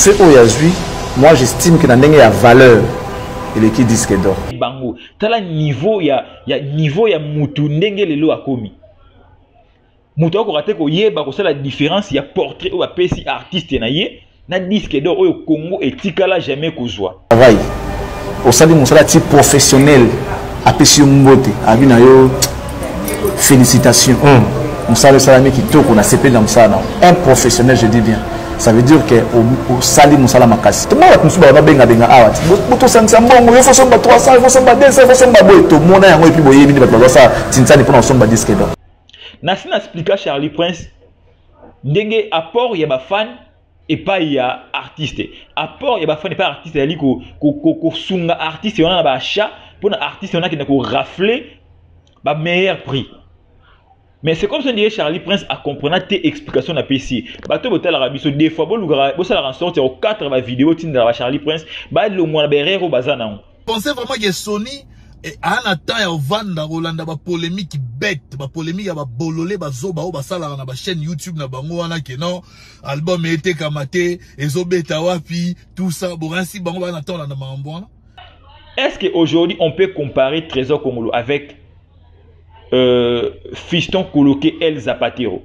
Feu oyo azwi, moi j'estime que na ndenge ya valeur eleki disque d'or. Bango tala niveau ya ya niveau ya mutu ndenge lelo akomi. Mutu akoka te koyeba kosala différence ya portrait oyo apesi artiste na ye na disque d'or oyo Congo etikala jamais kozwa. travail osali mosala ti professionnel apesi yo mbote abi na yo félicitation hmm. mosala esalami kitoko nasepeli na mosala nao un professionnel je dis bien ça veut dire que osali mosala makasi tomona bato mosusu bato babengabenga awa ti botosangisa mbongo yo fosomba 300 yo fosomba 200 fosomba boye tomona yango epuis boyebi nde bato bazosala tinsani mpona kosomba diske do nasi na explika charlie prince ndenge apport ya bafane epai ya artiste apport ya bafani epai artiste ezali kosunga ko, ko, ko artiste wana na baachat mpo na artiste wana akende korafle bameilleur prix mais c'est comme ça ndiye charlie prince acomprena te explication na pesi bato botalaka biso des fois bolukaka bosalaka sorte ya kokatre bavideo tindaka ba charlie prince balongwa na baerreur oyo baza nango pensez vraiment que Sony eh, a na temps ya ovanda kolanda ba polemique bête ba polemique ya ba bolole ba zoba oyo basalaka na ba chaîne YouTube na bango wana que non album etekama te ezobeta wapi tout ça boransi bango ba na temps olanda makambo wana Est-ce qu'aujourd'hui, on peut comparer Trésor Congolo avec euh, Fiston Koloke El Zapatero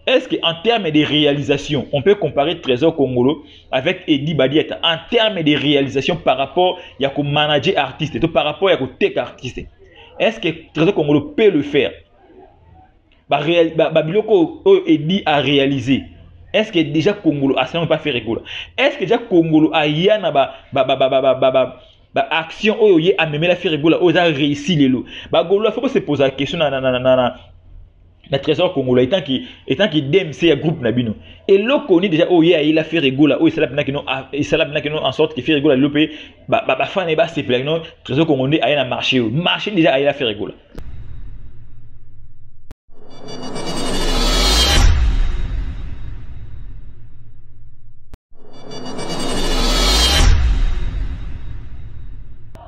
Est-ce qu'en termes de réalisation, on peut comparer Trésor Congolo avec Eddie Badiata en termes de réalisation par rapport à ko manager artiste, et par rapport à ko tech artiste Est-ce que Trésor Congolo peut le faire Babiloko ba, ba, Eddie a réalisé. Est-ce que déjà Congolo a seulement pas fait rigolo Est-ce que déjà Congolo a yana ba ba ba ba ba ba, ba, ba ba action oyo ye amemela ferre gola oyo eza réussi lelo bagolola foko se posa question na, na, na, na, na, na trésor congolais etant que etant que DMC ya groupe na bino eloko ni déjà oye ayela Ferre Gola oyo esala pinaki no ah, esala pinaki no en sorte que Ferre Gola lope ba ba, ba fan ba sepela no trésor congolais aya na marché oyo marché déjà ayela Ferre Gola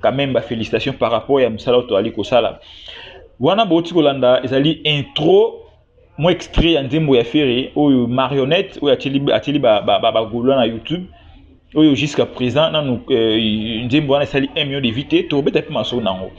quand même ba félicitations par rapport ya musala oyo toali kosala wana boti kolanda ezali intro mwa extrait ya nzembo ya ferre oyo marionnette oyo atieli bagolois na youtube oyo jusqu'à présent nanu euh, nzembo wana esali 1 million de vie te tokobeta mpe masolo na yango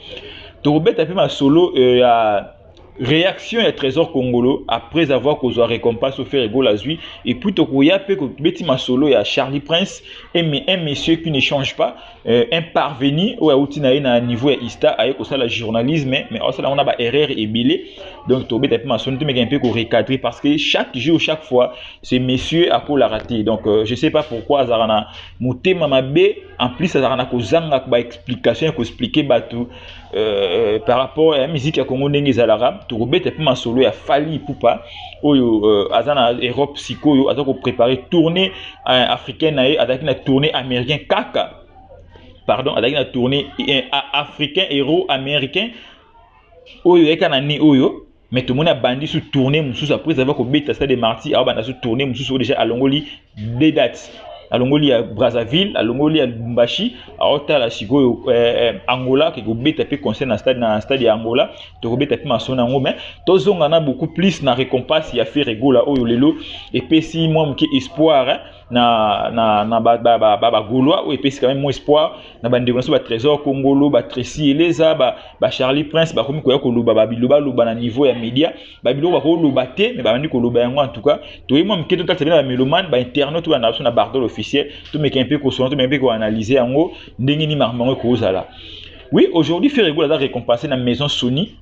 tokobeta mpe masolo euh, ya reaction ya trésor congolo après avoir kozwa récompense au faire ego lazwi et puis tokoya mpe kobeti masolo ya charlie prince un, un monsieur qui ne change pas euh, un parvenu oyo auti na ye na niveau ya ista aye kosala journalisme mais asala yango na ba erreur ebele donc tobeta mpe masolo tomeka mpe korecadre parce que chaque jour chaque fois ce monsieur akolaka te donc euh, je sais pas pourquoi azalaka na motema mabe en plus azalaka na kozanga ba explication ya koexplike bato euh, par rapport ya miziki ya congo ndenge ezalaka tokobeta mpe masolo ya fali pupa oyo euh, aza na europe sikoyo aza koprépare tournée euh, africaine na ye azalaki na tournée américain kaka pardon azalaki na tournée euh, africain euro américain oyo eyaka na ne oyo mais tomoni abandi su tourne mosusu après ava kobeta stade de martyr abanda su tourne mosusu oyo déjà alongoli deux dates alongoli ya brazzaville alongoli ya lubumbashi aotala sikoyo eh, eh, angola ake kobeta mpe concert na stade, na stade ya angola tokobeta mpe masolo na yango mais tozonga na beaucoup plus na récompense ya ferre gola oyo lelo epesi mwa moke espoir eh, na, na, na ba, ba, ba, ba, ba Gaulois oyo epesi quand même moins espoir na bandeko na biso ba Trésor Kongolo ba Tracy Eleza ba, ba Charlie Prince bakomi koya koloba ba biloba loba na niveau ya media ba biloko bakoloba te mais babandi koloba yango en tout cas toyei mwa moke totalisa bino ba melomane ba internaute oyo na biso na bardol officiel tomeka mpe kosona tomeka mpe koanalyse yango ndenge nini makambo yango ekozala oui aujourd'hui Ferre Gola aza récompensé na maison Sony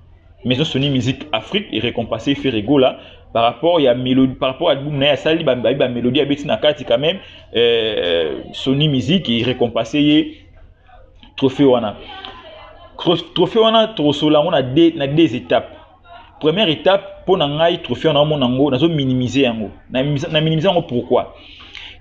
maison sony musique afrique erecompase ferre gola par rapport ya mélodie par rapport album na ye asali bayebi bamélodie abeti na kati quand même euh, sony musique erecompase ye trophée wana trophée wana tokosola yango na deux, na deux étapes première étape mpo na ngai trophée wana omona yango nazo minimise yango na minimise yango pourquoi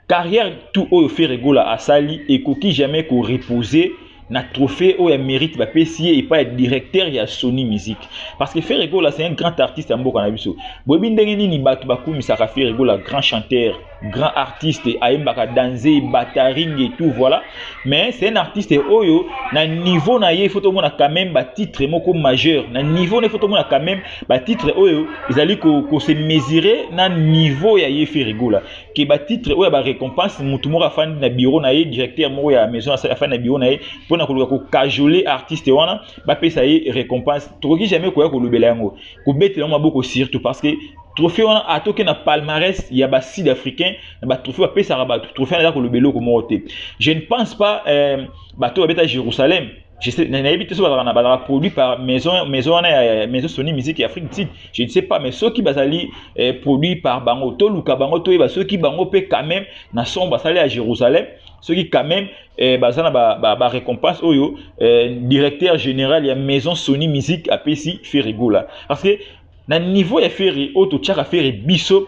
carrière tout oyo ferre gola asali ekoki jamais koreposer na trophée oyo ya mérite bapesi ye epai ya directeur ya sony musique parce que ferre gola c'est un grand artiste ya mboka na biso boyebi ndenge nini bato bakumisaka ferre gola grand chanteur grand artiste ayembaka danze bataringe tout voilà mais c'est un artiste oyo na niveau na ye faut tomona quand même batitre moko majeur na niveau na ye faut tomona quand même batitre oyo ezali kose mesurer na niveau ya ye ferre gola ke ba titre oyo ya ba récompense mutu moko afandi na bureau na ye directeur moko ya maison afandi na bureau na ye mpona koluka kokajole artiste wana bapesa ye récompense tokoki jamais koya kolobela yango kobetela yango maboko surtout parce que trophée wana atoke na palmarès ya ba sud africain na ba trophée bapesaka bato trophée wana eza koloba eloko moko te je ne pense pas euh, bato babeta jérusalem Je sais, nayebi te soki bazalaka na bazalaka produit par maison maison wana ya maison Sony Musique ya Afrique du Sud. Je ne sais pas mais soki bazali eh, produit par bango to luka bango to yeba soki bango pe quand même na son basali à Jérusalem soki quand même eh, baza na ba, ba, ba récompense oyo eh, directeur général ya maison Sony Musique apesi Ferre Gola parce que na niveau ya Ferre oyo totyaka Ferre biso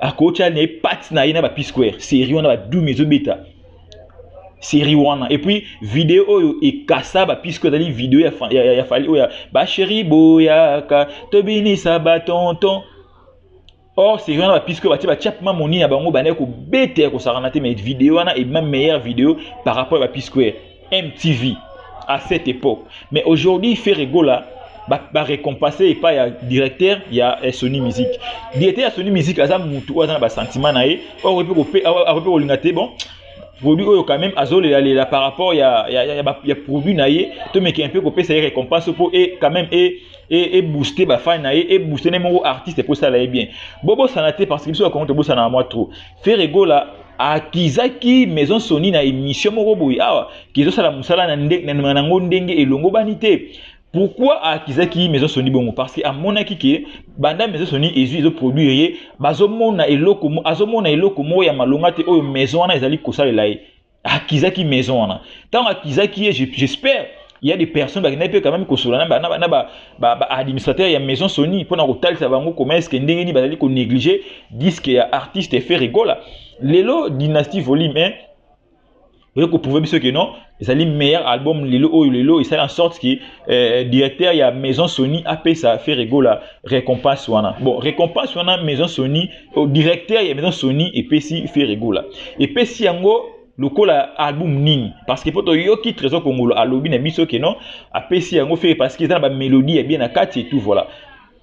akotya na ye pati na ye na ba p square série wana badumi ezobeta série wana et puis video oyo ekasa ba puisque ezali video ya, ya, ya, ya fali oyo ya basheri boyaka tobinisa batonton or série wana ba puisque batie batya mpema moni na bango bandaki kobeta ya kosakana te mais video wana ebima meilleure video par rapport ya ba puisque MTV à cette époque. Mais aujourd'hui, Ferre Gola va ba récompenser pas ya directeur ya eh, Sony Music. Directeur ya Sony Music aza mutu oyo aza na ba sentiment na ye, oyo akoki kope akoki kolinga te bon produit oyo quand même azolela lela par rapport ya ya ya, ya, ya produit na ye to meke un peu kopesa ye récompense po et quand même et et et booster ba fan na ye et booster ne moko artiste po sala ye bien. Bobo sanate parce que biso ba kongo to bosana moi trop. Ferre Gola akizaki maison soni na émission moko boye awa kizosala mosala na ndenge na nango ndenge elongobani te pourquoi akizaki maison soni bongo parce que amonaki ke banda maison soni ezwi ezo produire ye bazomona eloko azomona eloko moko ya malonga te oyo maison wana ezali kosalela ye akizaki maison wana ntango akizaki ye j'espère il y a des personnes bakendaki mpe quand même kosola na baadministrateur ba, ba, ba ya maison sony mpo na kotalisa bango comment eske ndenge nini bazali konéglige disque ya artiste ferre gola lelo dynastie volume 1 oye koprouve biso ke non ezali meilleur album lelo oyo lelo esali en sorte ke eh, directeur ya maison sony apesa ferre gola récompense wana bon récompense wana maison sony oh, directeur ya maison sony epesi ferre gola epesi yango lokola album nini parce que mpo toyoki trésor kongolo alobi na biso ke non apesi yango ferre parce que eza na bamélodie ya bien na kati et tout voilà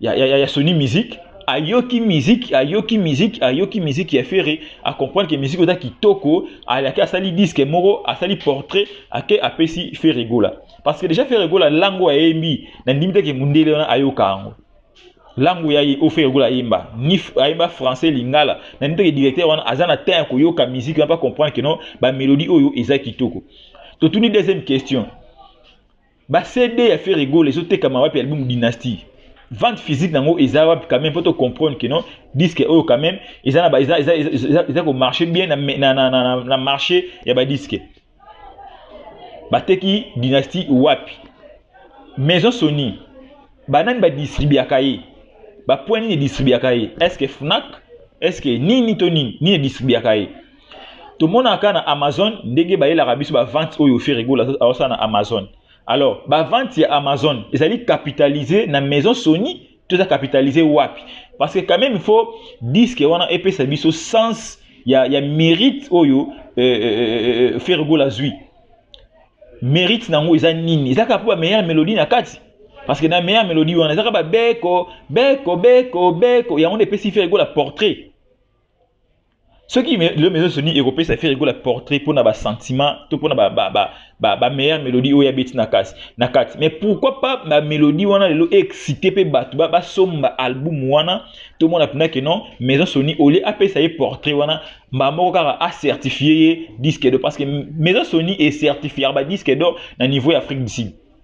ya, ya, ya, ya Sony Musique ayoki musique ayoki musique ayoki musique ya Ferre a comprendre que musique oza kitoko ayaki asali disque moko asali portrait ake apesi Ferre Gola parce que déjà Ferre Gola lango ayembi na ndimi te ke mundele wana ayoka yango lango ya ye o Ferre Gola ayemba ni ayemba français lingala na ndimi te ke directeur wana aza na temps ya koyoka musique wana pa comprendre que non ba mélodie oyo eza kitoko totuni deuxième question Ba CD ya Ferre Gola ezo tekama wapi album Dynastie? Vente physique nango eza wapi quand même poto comprendre que non disque oyo quand même eza na ba eza eza eza, eza ko marcher bien na na na, na, na marché ya ba disque. Bateki Dynastie wapi? Maison Sony banani ba distribuaka ye? Ba point nini distribuaka ye? Est-ce que Fnac? Est-ce que nini to nini nini distribuaka ye? tomonaka na amazon ndenge bayelaka biso bavente oyo ferigola aosala na amazon alors bavente ya amazon ezali capitalise na maison sony to eza capitalise wapi parce que quand même il faut disque wana epesa biso sens ya, ya mérite oyo euh, euh, euh, euh ferigola azwi mérite na yango eza nini ezaka mpo bameilleur mélodie na kati parce que na meilleure mélodie wana ezaka babeko beko beko beko yango nde epesi ferigola portrait soki lelo maison soni ekopesa fere gola portrait mpo na basentiment to mpo na bameilleure mélodie oyo abeti na kasi na kati mais pourquoi pas bamélodie wana lelo excite mpe bato basomba album wana tomona mpena ke non maison soni olie apesa ye portrait wana mbaa moko kaka acertifie ye disque d'or parce que maison soni ecertifiaka badisque d'or na niveau ya afrique du sud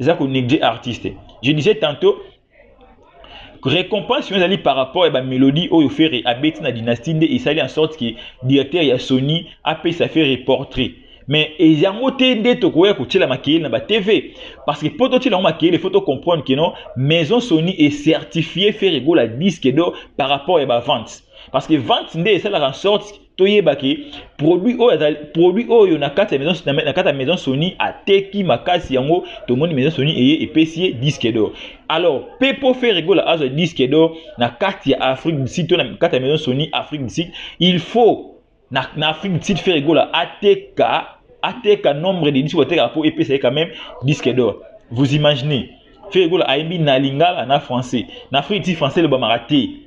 eza ko négliger artiste je disais tantôt récompense oyo ezali par rapport ya bamélodie oyo ferre abeti na dynastie nde esali en sorte ke directeur ya sony apesa ferre portrait mais yango te nde tokoya kotyela makeyeli na batv parce que mpo totyela yango makeyeli faut tocomprendre ke non maison sony ecertifie ferre gola disque do par rapport ya bavente parce que vente nde esalaka en sorte toyeba ke produit oyo azali produit oyo na kati ya maison na kati ya maison Sony ateki makasi yango tomoni maison Sony eye epesi ye disque d'or alors pe po Ferre Gola azwa disque d'or na kati ya Afrique du Sud to na kati ya maison Sony Afrique du Sud il faut na, na Afrique du Sud Ferre Gola ateka ateka nombre de disques atekaka po epesa ye quand même disque d'or vous imaginez Ferre Gola ayembi na lingala na français na Afrique du Sud français elobamaka te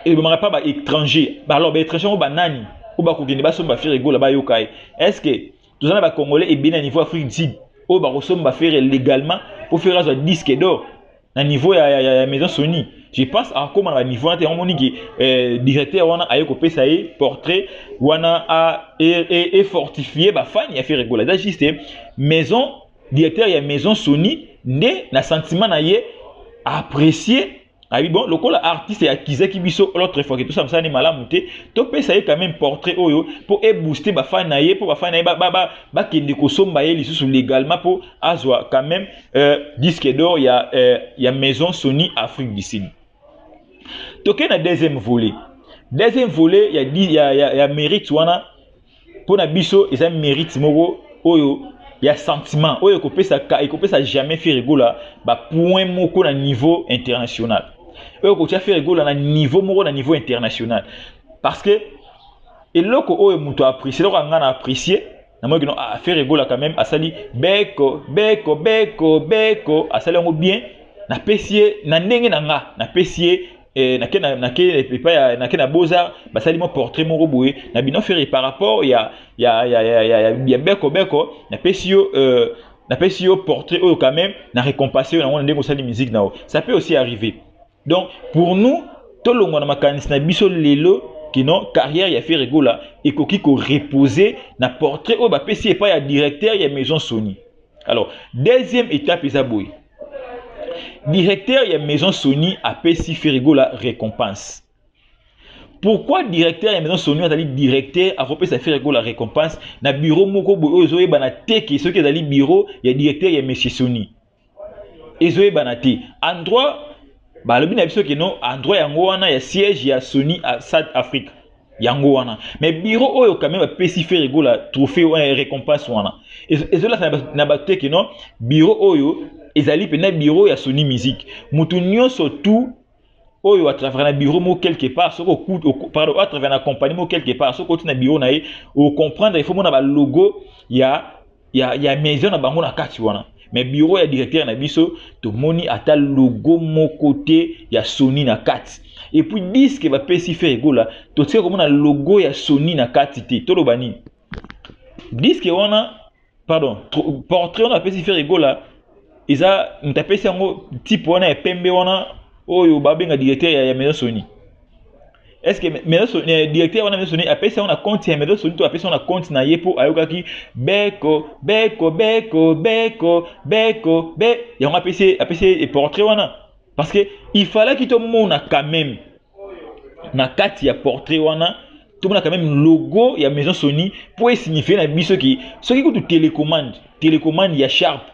elobamaka mpa baétranger alors baétranger yango banani oyo bakokende basomba fere egola bayoka ye est ce que toza na bacongolais ebele na niveau afrique did oyo bakosomba fere légalement mpo fere azwa disque d'or na niveau ya, ya, ya, ya maison sony je pense akóma na baniveau wana te yango moni ke eh, directeur wana aye kopesa ye portrait wana efortifie e, e, e bafani ya fere egola eza juste maison directeur ya maison sony nde na sentiment na ye apprécier ayebi bon lokola artiste akizaki biso l'autre fois ke tosala mosala ne malamu te topesa ye quand même portrait oyo mpo ebooste bafani na ye mpo bafani na ye bakende ba, ba, ba kosomba ye lisusu légalement mpo azwa quand même euh, disque d'or ya, euh, ya maison sony afrique du sud tokei na deuxième volet deuxième volet ya, ya, ya, ya mérite wana mpo na biso eza merite moko oyo ya sentiment oyo ekopesa ekopesa jamais Ferre Gola ba point moko na niveau international oyo kotia Ferre Gola na niveau moko na niveau international parce que eloko oyo moto apprécie eloko anga na apprécie namoni kino ah, Ferre Gola quand même asali beko beko beko beko asali yango bien napesi ye na ndenge na nga napesi ye eh, nake na nake epa ya nake na boza basali mwa portrait moko boye na bino fere par rapport ya ya ya ya ya, ya, ya beko beko napesi yo euh, napesi yo portrait oyo quand même na récompense yo nango na ndenge osali musique na yo ça peut aussi arriver donc pour nous tolongwa na makanisi na biso lelo kino carrière ya fere gola ekoki ko reposer na portrait oyo bapesi epai ya directeur ya maison sony alors deuxième étape eza boye directeur ya maison sony apesi ferigola récompense pourquoi directeur ya maison sony azali directeur akopesa ferigola récompense na bureau moko boye oyo ezoyebana te ke soki ezali bureau ya directeur ya monsieur sony ezoyebana te endroit balobi na biso ke no endroit yango wana ya siège ya sony south africa yango wana me biro oyo kame bapesi fere gola trophée wana eh, récompense wana ezolasa na bato te ke no biro oyo ezali mpenza biro ya sony musique moto nyonso tout oyo atravers na bureau moko quelque part soki pardon atravers na compagnie moko quelque part soki oti na bureau na ye okomprendre ifo mona balogo ya ya, ya maison na bango na kati wana mais bureau ya directeur na biso tomoni ata logo moko te ya soni na kati epuis diske bapesi fer egola totika komona logo ya soni na kati te toloba nini diske wana pardon portrait wana bapesi fer egola eza moto apesi yango type wana ya pembe wana oyo babenga directeur ya, ya maison soni est ce que maison soni eh, directeur wana maison soni apesi yango na compte ya maison soni to apesi yango na compte na ye mpo ayokaki beko beko beko beko beko be yango apesi apesi ye portrait wana parce que il fallaki tomona quand même na kati ya portrait wana tomona quand même logo ya maison soni mpo esignifie na biso ke soki kutu télécommande télécommande ya sharpe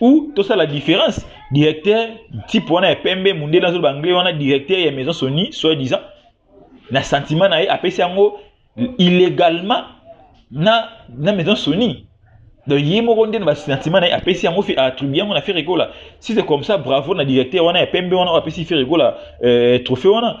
ou la différence directeur type wana ya pembe mundele azoloba anglais wana directeur ya maison soni soit disant na sentiment na ye apesi yango illégalement na, na maison soni donc ye moko nde na basentiment na ye apesi yango atribu yango na ferre gola si c'est comme ça bravo na directeur wana ya pembe wana oyo apesi ferre gola euh, trophée wana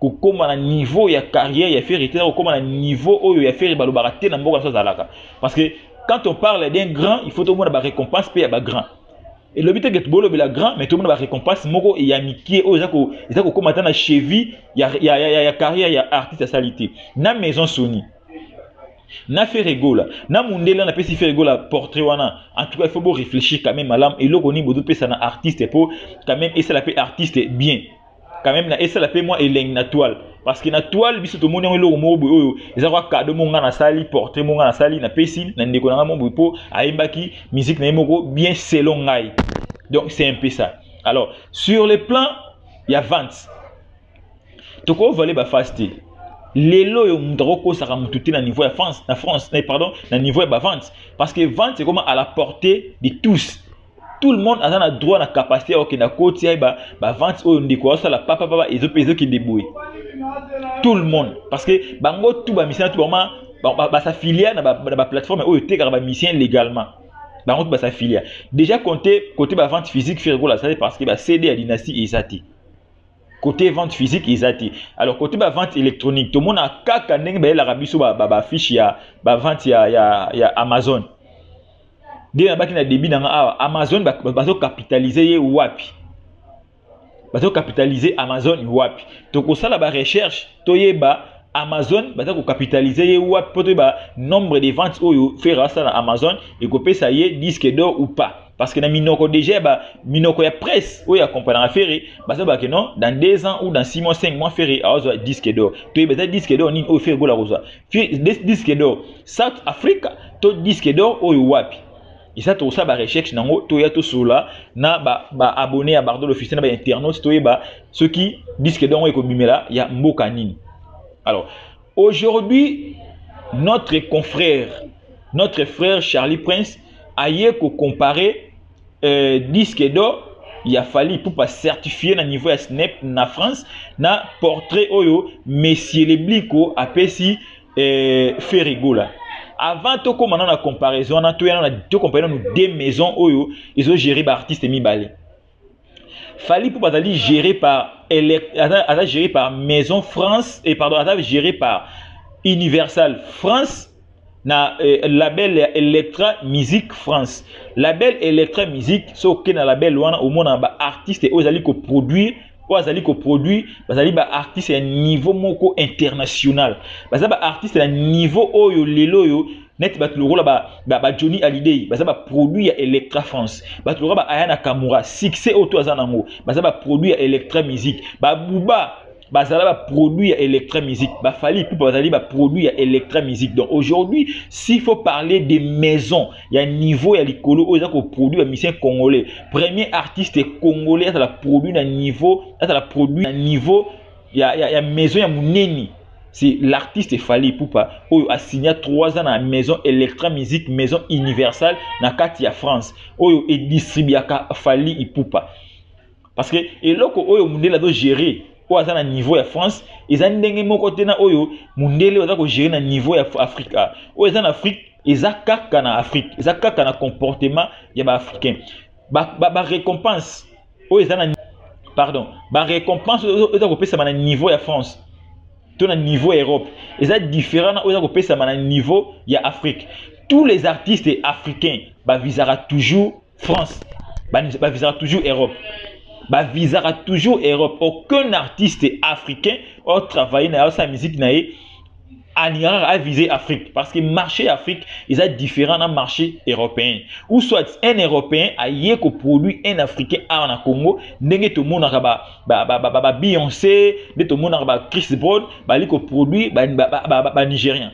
kokoma na niveau ya carrière ya ferre te na kokoma na niveau oyo ya ferre balobaka te na mboka nyonso azalaka parce que quand on parle d'un grand il faut tomona barécompense mpe ya bagrand elobi te ke bolobela grand mais tomona barécompense moko ya mikie oyo eza kokoma ata na cheville ya, ya, ya, ya, ya carrière ya artiste asali te na maison soni na ferre gola na mundele na pesi ferre gola portrait wana en tout cas il faut bo réfléchir quand même malam eloko nini bozo pesa na artiste po quand même esala pe artiste bien quand même na esala pe moi elengi na toile parce que na toile biso tomoni yango eloko moko boye oyo eza kwa cadeau moko ngai nasali portrait moko ngai nasali napesi na ndeko na ngai moko boye mpo ayembaki musique na ye moko bien selon ngai donc c'est un peu ça alors sur le plan ya vente tokovale bafase te lelo oyo moto akokosaka motu te na niveau ya france na france eh, pardon na niveau ya bavente parce que vente ekoma à la portée de tous tout le monde aza na droit na capacité ya kokenda koti ya ba, ba vente oyo ndeko asala papa papa ezokende boye tout le monde parce que bango tout bamisana tout bama basaffilia na baplateforme oyo etekaka bamisien légalement bango tout basaffilia déjà compte côté bavente physique fergola asali parce que bacd ya dynastie eza te côté vente physique eza te alors côté bavente électronique tomona kaka ndenge bayelaka biso bafiche ya bavente ya, ya, ya amazon nde nabaki na début na nga awa amazon bazocapitalise ye wapi bazocapitalise amazon wapi tokosala barecherche toyeba amazon baza kocapitalise ye wapi mpo toyeba nombre de vente oyo fere asala na amazon ekopesa ye disque d'or ou pas parce que na minoko déjà ba minoko ya presse oyo akompagnaka fere baza bake non dans deux ans ou dans six mois cinq mois fere aozwa disque d'or toyeba eza disque d'or nini oyo fere gola kozwa disque d'or south africa to disque d'or oyo wapi eza tokosala barecherche nango toya tosolola na baabonne ba ya bardo l'officiel na bainternaute toyeba soki disque d'or yango ekobimela ya mboka nini alors aujourd'hui notre confrère notre frère charlie prince aye kocompare euh, disque d'or ya fali ipupa certifie na niveau ya snap na france na portrait oyo monsieur lebliko apesi euh, ferigola avant tokóma na na comparaison wana toya na tocompare nanu deux maison oyo ezogere baartiste mibale Fally Ipupa azali géré par aza géré par Maison France et pardon aza géré par Universal France na euh, label ya Electra Music France. Label Electra Music soki na label wana omona ba artistes oyo ezali ko produire oyo azali koproduire bazali baartiste ya niveau moko international baza baartiste ya niveau oyo lelo oyo neti bato lokola ba, ba, ba johnny alidei baza baproduit ya electra france bato lokola ba ayana kamura succès oyo to aza nango baza baproduit ya electra musique babuba bazala baproduit ya electra musique bafali pupa bazali baproduit ya electra musique donc aujourd'hui s'il faut parler de maison ya niveau ya likolo oyo eza koproduit bamisien congolais premier artiste congolais azala produit na niveau azala produit na niveau ya, ya, ya maison ya munene c'est l'artiste Fally Ipupa oyo asigna 3 ans na maison Electra Musique maison universelle na kati ya France oyo edistribuaka Fally Ipupa parce que eloko oyo mundele azo gérer oyo aza na niveau ya France eza ndenge moko te na oyo mundele oyo aza ko gérer na niveau ya Afrique ah, oyo eza na Afrique eza kaka na Afrique eza kaka na comportement ya ba Africains ba, ba, ba récompense oyo eza na pardon ba récompense oyo eza kopesama na niveau ya france to na niveau ya europe eza différent na oyo eza kopesama na niveau ya afrique tous les artistes africains bavisaka toujours france bavisaka toujours europe bavisaka toujours europe aucun artiste africain oyo travaille na ye asala miziki na ye en Iran a visé Afrique parce que marché Afrique ils a différent na marché européen ou soit un européen a yé ko produit un africain à na Congo ndenge to mona ka ba ba ba ba, ba Beyoncé de to mona ba Chris Brown ba li ko produit ba ba, ba, ba, ba nigérien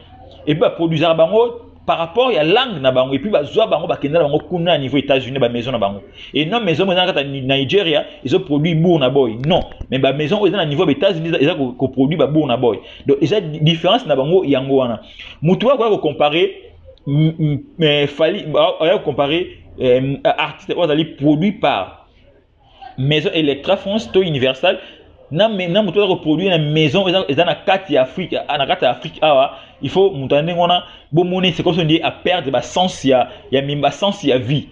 et puis ba produisaka bango par rapport ya langue na bango epuis bazwa bango bakenda na bango kuna na niveau états-unis bamaison na bango e non maison moko eza na kati ya nigeria ezoproduit bour na boy non mais bamaison oyo eza na niveau ya baétats-unis eza koproduit babour na boy donc eza différence na bango yango wana motu oyo akoya kocompare fali oya kocompare artiste oyo azali produit par maison Electra France to Universal na na moto ko produire na maison eza eza na kati ya Afrique na kati ya Afrique awa il faut moto ndenge wana bo moni c'est comme si a perdre ba sens ya ya mimba sens ya vie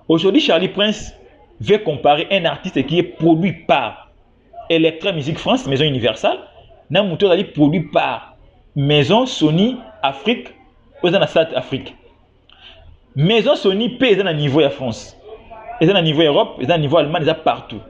aujourd'hui Charlie Prince veut comparer un artiste qui est produit par Electra Music France maison Universal na moto azali produit par maison Sony Afrique oza na South Afrique maison soni mpe eza na niveau ya france eza na niveau ya europe eza na niveau ya allemagne eza partout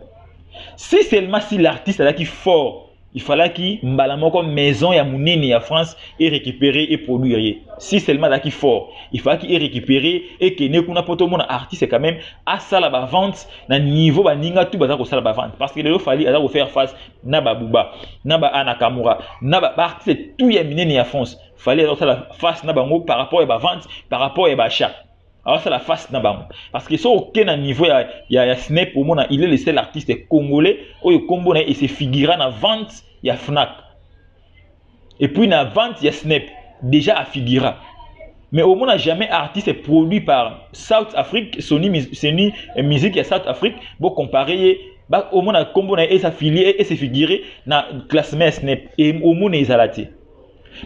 si seulement si l'artiste azalaki fort il falaki mbala moko maison ya monene ya france erécupere eproduire ye si seulement azalaki fort il falaki erécupere ekende kuna mpo tomona artiste quand même asala bavente na niveau baninga tu baza kosala bavente parce que lelo fali aza kofaire face na babuba na baanakamura na baartiste tu ya minene ya france fallait azosala face na bango par rapport ya bavente par rapport ya baachat azosala face na bango parce que soki oke na niveau ya, ya, ya snep omona il est le seul artiste congolais oyo nkombo na ye ese figura na vente ya fnac et puis na vente ya snep déjà afigura mais omona jamais artiste produit par south afrique soni, soni eh, musique ya south afrique bocompare ye omona nkombo na ye esa filie ese figure na classement ya snep e omona ezala te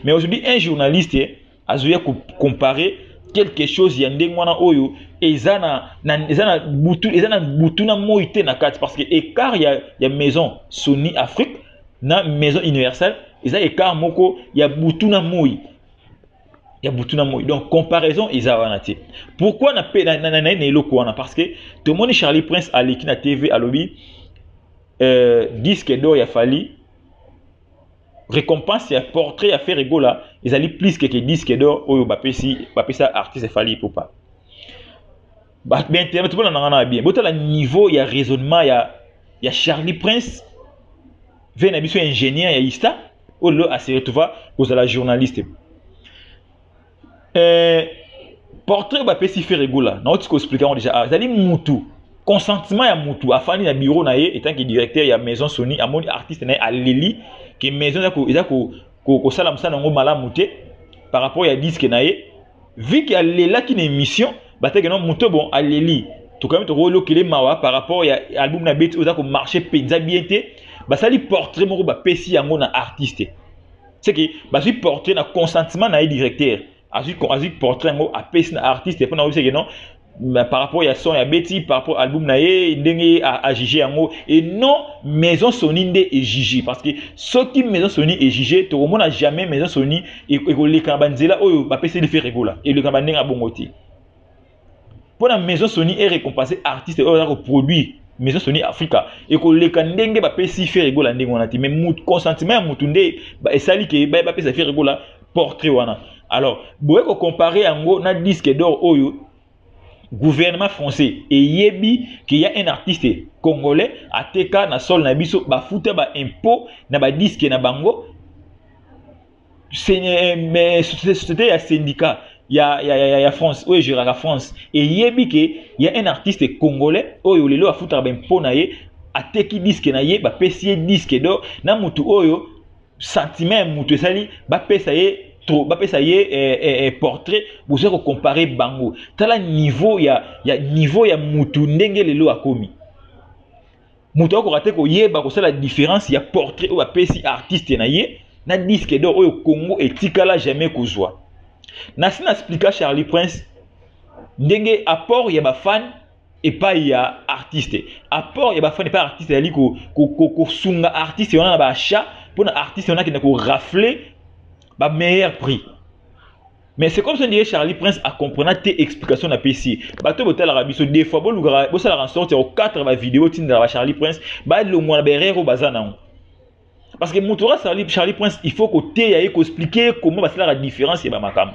mais aujourd'hui un journaliste eh, azoya comparer quelque chose ya ndenge wana oyo eza na, na, eza na butu eza na butu na moi te na kati parce que écart ya, ya maison sony afrique na maison universelle eza écart moko ya butu na moi ya butu na moi donc comparaison eza wana te pourquoi na pe na, na, na, na, na eloko wana parce que tomoni charlie prince aleki na tv alobi euh, disque d'or ya fali récompense ya portrait ya Ferre Gola ezali plus que disque d'or oyo bapesi bapesa artiste Fally Ipupa ba ben te tu na ngana bien botala niveau ya raisonnement ya ya Charlie Prince vena biso ingénieur ya Ista oyo a se retrouva kozala journaliste eh, portrait oyo bapesi fere gola nauti koexplike yango deja azali ah, mutu consentement ya mutu afandi na bureau na ye etanke directeur ya maison sony amoni artiste na ye aleli ke maison eza kosala mosala yango malamu te par rapport ya diske na ye vu ke alelaki na émission bateke no moto bon aleli tokomi tokoyokele mawa par rapport ya album na beti oyo eza komarche mpenza bien te basali portrait moko bapesi yango na artiste c'est que bazwi portrait na consentement na ye directeur azwi azwi portrait yango apesi na artiste mpo na oyebiseke non par rapport ya son ya beti par rapport album na ye ndenge ye ajuge yango et non maison soni nde ejuge parce que soki maison soni ejuge tokomona jamais maison soni ekoleka na banzela oyo bapesi life regola eleka na bandenge ya bongo te mpo na maison soni erecompase artiste oyo aza koproduire maison soni afrika ekoleka ndenge bapesi fere egola ndenge wana te mais consentiment ya motu nde esali ke bapesa fere egola portrait wana alors boye kocompare yango na disque d'or oyo gouvernement français eyebi qu'il y a un artiste congolais ateka na sol na biso bafuta ba impôt na badisque na bango eh, société ya syndicat ya, ya, ya, ya france oyo egeraka france eyebi ke ya un artiste congolais oyo lelo afutaka bempo na ye ateki diske na ye bapesi ye diske do na motu oyo sentiment ya motu esali bapesa ye trop bapesa ye eh, eh, eh, portrait boza kocompare bango tala niveau ya, ya niveau ya motu ndenge lelo akomi moto akoka te koyeba kosala différence ya portrait oyo apesi artiste na ye na disque d'or oyo congo etikala jamais kozwa nasi na explika charlie prince ndenge apport ya bafane epai ya artiste apport ya bafane epai ya artiste ezali kosunga ko, ko, artiste wana na baachat mpo na artiste wana akenda korafle bameilleur prix mais c'est comme ça ndiye charlie prince acomprena te explication na pesi bato botalaka biso des fois bolukaka bosalaka en sorte ya kokatre bavideo otindela ba charlie prince balongwa na baerreur oyo baza nango parce que moto oka charlie, charlie prince il faut koteya ye koexplike ye comment basalaka différence ya bamakambo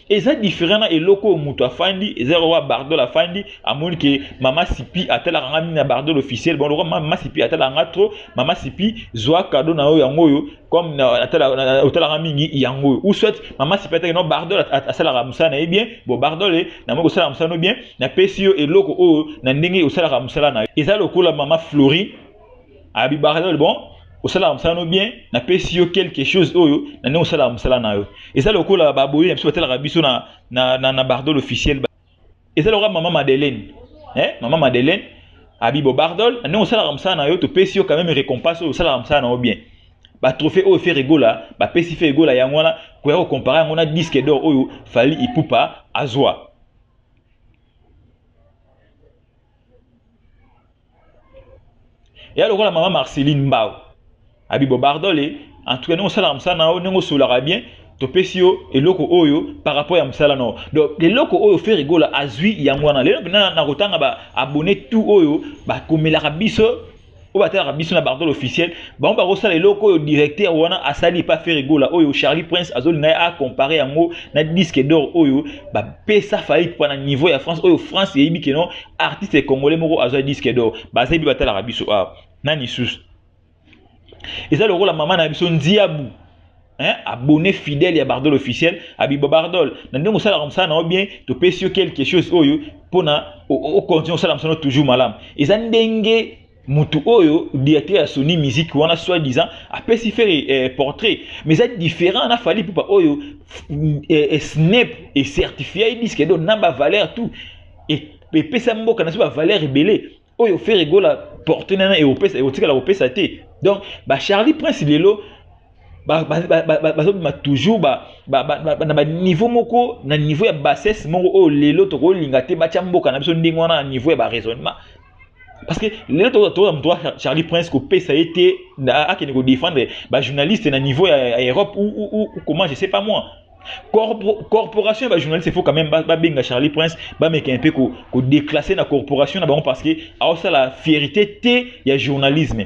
eza different na eloko oyo moto afandi eza eloko ya bardol afandi amoni ke mama sipi atalaka nga mingi na bardol officiel bon lokola mama sipi atalaka nga trop mama sipi zwa kado na yo yango oyo comme otalaka mingi yango oyo ou soit mama sipi ataki no bardol asalaka mosala na ye bien bon bardol e namoki osalaka mosala no bien napesi yo eloko oyo na ndenge osalaka mosala na yo eza lokola mama flori abi baradol bon osalaka mosala no bien napesi yo quelque chose oyo na ndenge osalaka mosala na yo eza lokola baboyi na biso batalaka biso na, na, na, na bardol officiel eza lokola mama madeleine eh? mama madeleine abibo bardol na ndenge osalaka mosala na yo topesi yo quand même récompense oyo osalaka mosala na yo bien batrophée oyo fere egola bapesi fere egola yango wana koya kokompare yango na disque d'or oyo fali ipupa azwa eya lokola mama marceline mbao abibo bardole en tout cas ndenge osalaka mosala na yo ndenge osolaka bien topesi yo eloko oyo par rapport ya mosala na yo donc eloko oyo fere gola azwi yango wana lelo mpena nakotanga ba abonne tout oyo bakomelaka biso oyo batalaka biso na bardole officiel bango bakosala eloko oyo directeur wana asali epa fere gola oyo charlie prince azolinga ye acompare yango na disque d'or oyo bapesa faillite mpo na niveau ya france oyo france eyebi keno artiste congolais moko azwa disque d'or bazebi batalaka biso awa nani susu eza lokola mama na biso nziabu hein, abonné fidèle ya bardol officiel abiba bardol na ndenge osalaka mosala na yo bien topesi yo quelque chose oyo mpona ocontinue osala mosala toujours malamu eza ndenge mutu oyo directeur ya Sony musique wana soit disant apesi faire eh, portrait mais eza différent na Fally Ipupa oyo eh, eh, Snap et certifié disque donc na ba valeur tout et epesa mboka na biso ba valeur ebele oyo Ferre Gola portrait nana eopesa eotikala kopesa te donc ba Charlie Prince lelo bazobima toujours na baniveau moko na niveau ya bassesse moko oyo lelo tokolinga te batya mboka na biso ndenge wana na niveau ya baraisonnement parce que lelo toza moto wa charlie prince kopesa ye te akende kodefendre bajournaliste na niveau ya europe ou comment je sais pas moi Corpo, corporation ya bajournaliste il faut quand même babenga charlie prince bameka mpe kodeclasse na corporation na bango parce que aosala fierité te ya journalisme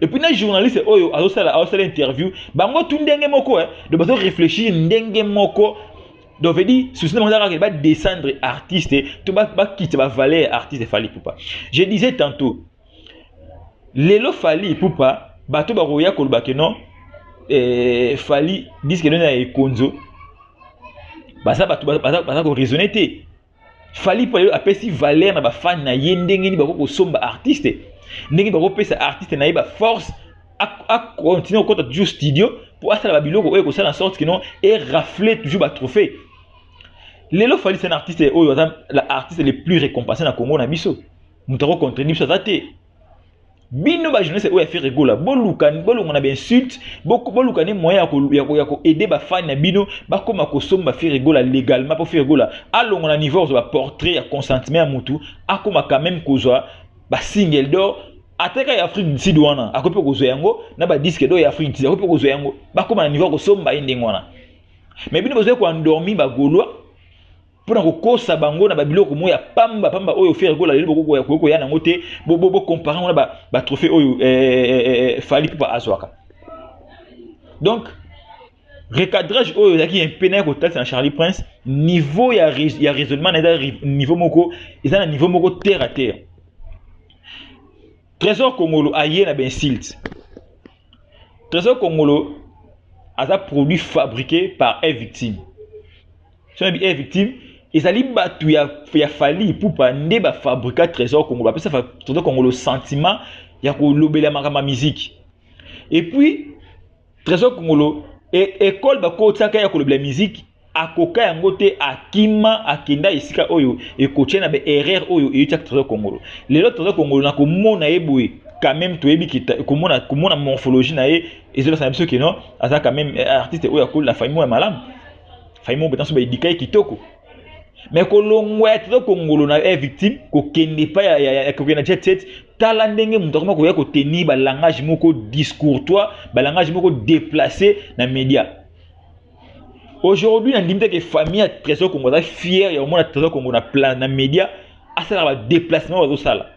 et puis na journaliste oyo azosala azosala interview bango tu ndenge moko eh, donc bazo réfléchir ndenge moko donc veut dire souci na bango ezalaka ba descendre artiste to bakitisa ba valeur artiste fali pupa je disais tantôt lelo fali pupa bato bakoya koloba ke non eh, fali diske noni ya ekonzo baza bato baza koraisonne te fali mpo ayo apesi valeur na bafani na ye ndenge nini bakoki kosomba artiste ndenge bakopesa artiste na ye baforce acontinue kokota toujours studio mpo asala babiloko oyo ekosala na sorte kino erafle toujours batrophée lelo fali c'est un artiste oyo aza artiste le plus récompensé na congo na biso moto akocontrene biso aza te bino ba journaliste oyo ya Ferre Gola boluka bolongo na ba insulte boluka ne moyen ya ko ya ko ya ko aider ba fans na bino bakoma kosomba Ferre Gola légalement pour Ferre Gola alongo na niveau ba portrait ya consentement ya mutu akoma quand même kozwa ba single d'or ateka ya Afrique du Sud wana akopi kozwa yango na ba disque d'or ya Afrique du Sud akopi kozwa yango bakoma na niveau ya kosomba ye ndenge wana mais bino bozoya ko endormi ba Gaulois mpo na kokosa bango na babiloko moko ya pamba pamba oyo fere kola lelo bokoki koya nango te bokompare yango na batrophée oyo eh, eh, eh, fali pupa azwaka donc recadrage oyo ezalaki mpe naye kotalisa na charlie prince niveau ya, ya raisonnement na eza niveau moko eza na niveau moko terre à terre trésor kongolo aye na bainsulte trésor kongolo aza produit fabriqué par un victime soki nayebi e victime ezali bato ya, ya fali ipupa nde bafabrika trésor congo bapesa trésor congo le sentiment ya kolobela makambo ya miziki epuis trésor congolo ekole bakotisaka ya kolobela miziki akoka yango te akima akenda esika oyo ekotia na baerreur oyo eutiaka trésor congolo lelo trésor congolo na komona ye boye quand même toyebi komona komona morphologie na ye ezolasana biso keno aza quand même eh, artiste oyo akoli na famille oyo ya malamu fai moko betanso baedika ye kitoko me kolongwa ya tata kongolo na ye victime kokende epai ya, ya, ya, ya kokende na jet set tala ndenge moto akoma koya kotenir balangage moko discourtois balangage moko déplacé na média aujourd'hui nandimi te ke famille ya trésor congo aza fière ya komona trésor congo na, na média asalaka badéplacement bazosala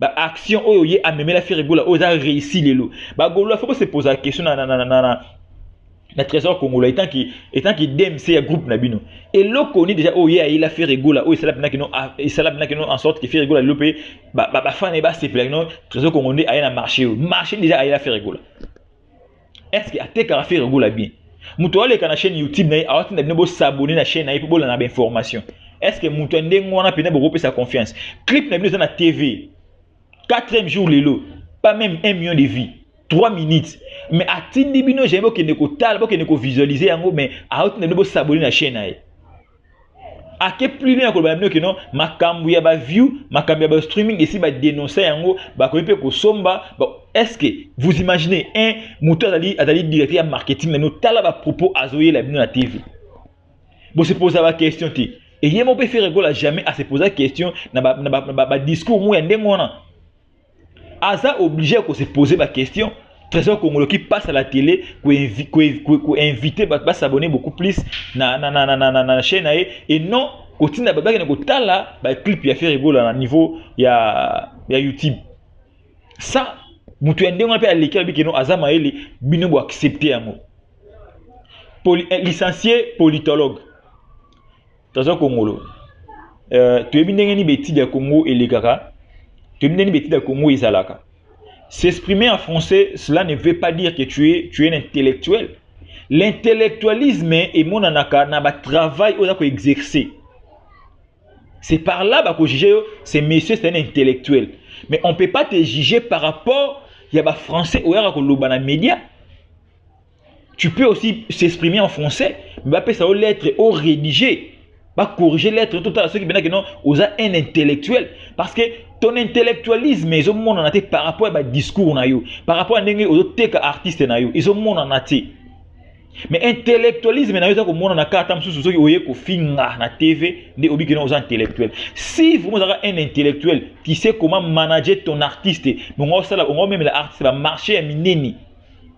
ba action oyo ye amemela Ferre Gola oyo eza réussi lelo ba Golois faut se poser la question na na na na na na trésor congolais etant que etant que DMC ya groupe na bino eloko ni déjà oyo ye ayela Ferre Gola oyo esala bina kino ah, esala bina kino en sorte que Ferre Gola lelo pe ba ba, ba fan ba sepela kino trésor congolais aya na marché oyo marché déjà ayela Ferre Gola est-ce que atekaka ferre gola bien moto aleka na chaîne youtube na ye awatinda bino bosabone na chaîne na ye mpe bolanda bainformation est ce que moto ya ndenge wana mpenza bokopesa confiance clip na bino eza na tv 4e jour lelo pas même 1 million de vie 3 minutes mais atindi bino jamai bokende kotala bokende kovisualize yango mais aotinda bino bosabone na chaîne na ye ake plus loin ya koloba na bino kino makambo ya baview makambo ya bastreaming esi badenonsa yango bakoki mpe kosomba ba... est-ce que vous imaginez un moto azali azali directeur ya marketing na bino tala bapropos azoyela bino na tv bosepoza baquestion te eye moko mpe feregola jamais asepoza question na badiscours ba, ba, ba, ba moko ya ndenge wana aza oblige ya kose pose baquestion trésor congolo qui passe à la télé koinvite bato basabone beaucoup plus na, na, na, na, na, na, na chaîne na ye et non kotinda bato bakende kotala baclip ya fere egola na niveau ya, ya youtube sa moto ya ndenge wana mpe aleki alobi keno aza mayele bino boaccepte yango Poli, eh, licencie politologue toza kongolo euh, toyebi ndenge nini betide ya congo elekaka toyebi ndenge nini betide ya congo ezalaka s'exprimer en français cela ne veut pas dire que tu es, tu es un intellectuel l'intellectualisme emonanaka na batravail oyo oza koexercer c'est par là bakojuge yo ce monsieur c'est un intellectuel mais on peut pas te juger par rapport ya bafrançais oyaka koloba na média tu peux aussi s'exprimer en français mais bapesa yo lettre o rédiger bacorrige lettre totala soki mpenza keno oza un intellectuel parce que ton intellectualisme ezomonana te par rapport ya badiscours na yo par rapport ya ndenge ozoteka artiste na yo ezomonana te mais intellectualisme na yo eza komonana kaka ata mosusu soki oye kofinga na tv nde obi keno oza intellectuel si vraiment ozaka un intellectuel tu sais comment manager ton artiste bongo osala ongo omemela artiste bamarché ya minene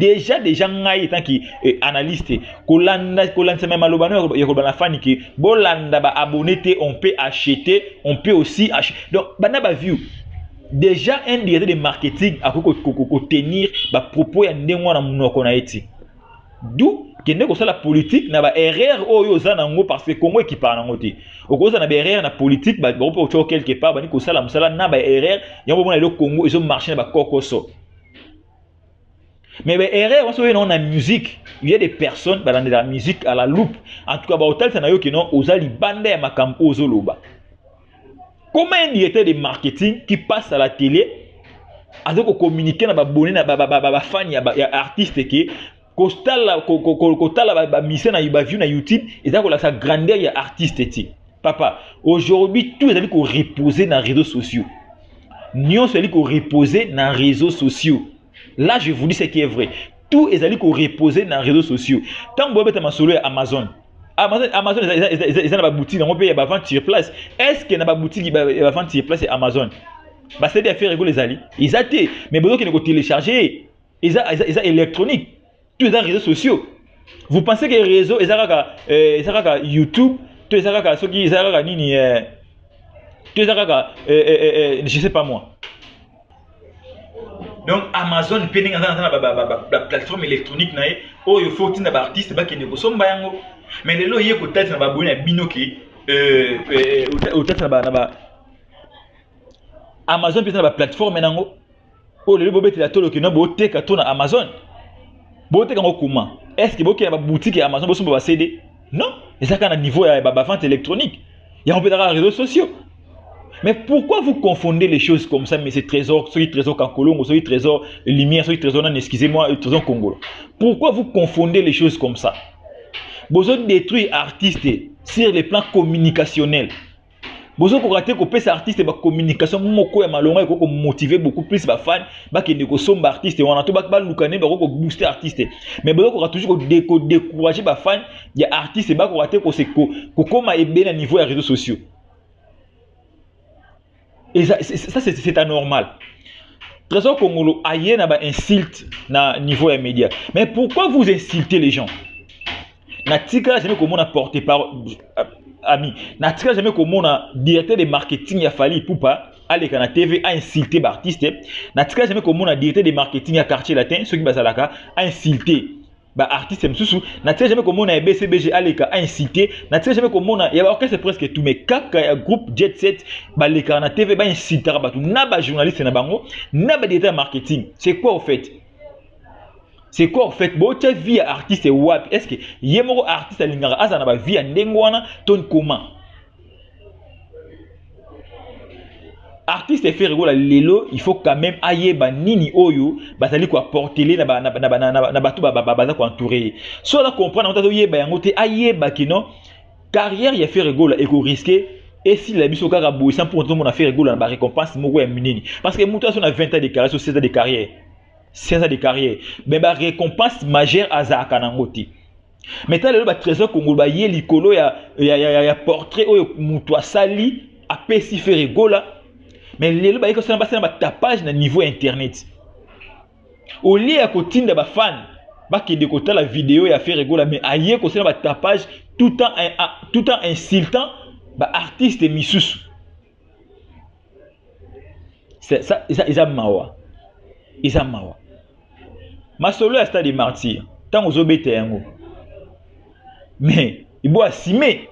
deja deja ngai etant ki eh, analyste kolanda kolandisama ya maloba no ya koloba na fani ke bolanda ba abonné te on peut acheter on peut aussi acheter donc banda ba view deja un directeur de marketing akoki kotenir ba propos ya ndenge wana monoko na ye ti d'où kende kosala politique na ba erreur oyo oza nango parce que congo ekipaka nango te okozala na ba erreur na politique bakope otyo quelque part bani kosala mosala na ba erreur yango bomona lelo congo ezo marche na bakokoso mais ba erreur wana soki na musique il y a des personnes balandela musique à la loupe en tout cas bakotalisa na yo kino oza libanda ya makambo oyo ozoloba comment un directeur de marketing qui passe à la télé aza kocommunike na babone na bafani ya artiste ke kotala bamisie na baview na youtube eza kolakisa grandeur ya artiste te papa aujourd'hui tout ezali koreposer na réseaux sociaux nyonso ezali koreposer na réseaux sociaux là je vous dis ce qui est vrai tout ezali koreposer na réseaux sociaux ntango boyobeta masolo ya amazon amazon amazon eza na baboutique yango mpe ya bavente sur place est ce que na baboutique ya bavente sur place ya amazon basede ya ferre ekolo ezali eza te mais bozokende kotelecharge eza, eza, eza électronique tout eza réseaux sociaux vous pensez que réseau eza kaka euh, eza kaka youtube to eza kaka soki eza kaka nini euh, to eza kaka euh, euh, euh, euh je sais pas moi donc amazon mpe ndenge aza na baplateforme électronique na ye oyo fo otinda baartiste bakende kosomba yango mais lelo oye kotalisa na baboyi na bino ke euh, euh, otalisa na ba amazon mpe eza na baplateforme na yango oyo lelo bobetela tolo kino boteka to na amazon boteka yango kuma estce bokenda babutike ya amazon bosomba bacd non eza kaka na niveau ya bavente électronique yango mpe ezaka réseau sociaux mais pourquoi vous confondez les choses comme ça monsieur trésor soki trésor kankolongo soki trésor lumière soki trésor nani excusez moi trésor kongolo pourquoi vous confondez les choses comme ça bozo détruire artiste sur le plan communicationnel bozokoka te kopesa artiste bacommunication moko ya malonga ekoki komotive beaucoup plus bafani bakende kosomba artiste wana to baluka nde bakoki kobooste artiste mais bozokoka toujours kodécourage bafani ya artiste bakoka te kokoma ebele na niveau ya réseau sociaux et ça c'est anormal trésor kongolo aye na bainsulte na niveau ya média mais pourquoi vous insultez les gens natikala jamais komona porte parole euh, ami natikala jamais komona directeur de marketing ya fali ipupa aleka na tv ainsulte baartiste natikala jamais komona directeur de marketing ya quartier latin soki bazalaka ainsulte baartiste mosusu natikala jamais komona ya bcbg aleka ainsulte natikala jamais komona ya baorchestre presque tout mais kaka ya groupe jet set balekaka na tv bainsultaka bato na bajournaliste na bango na badirecteur ya marketing c'est quoi au fait c'est quoi en fait botya vie ya artiste wapi est ce que ye moko artiste alingaka azala na bavie ya ndenge wana to nkoma artiste efere kola lelo il faut quand même ayeba nini oyo bazali koaportele na bato baza koentoure ye so aza comprendre yango te azoyeba yango te ayeba kino carrière ya Ferre Gola eko risquer esila biso kaka boye sans pour tozomona Ferre Gola na ba récompense moko ya minene parce que moto azo na 20 ans de carrière so 16 ans de carrière 16 ans de carrière mais ba récompense majeure azalaka nango te mais ta lelo ba trésor congo baye likolo ya, ya, ya, ya, ya portrait oyo moto asali apesi Ferre Gola mais lelo baye kosala basala ba tapage na niveau ya internet au lieu ya kotinda ba fans bakende kotala video ya Ferre Gola mais aye kosala ba tapage tout en tout en insultant ba artistes misusu ça eza eza mawa eza mawa masolo ya stade martyr ntango ozobeta yango mais ibo asime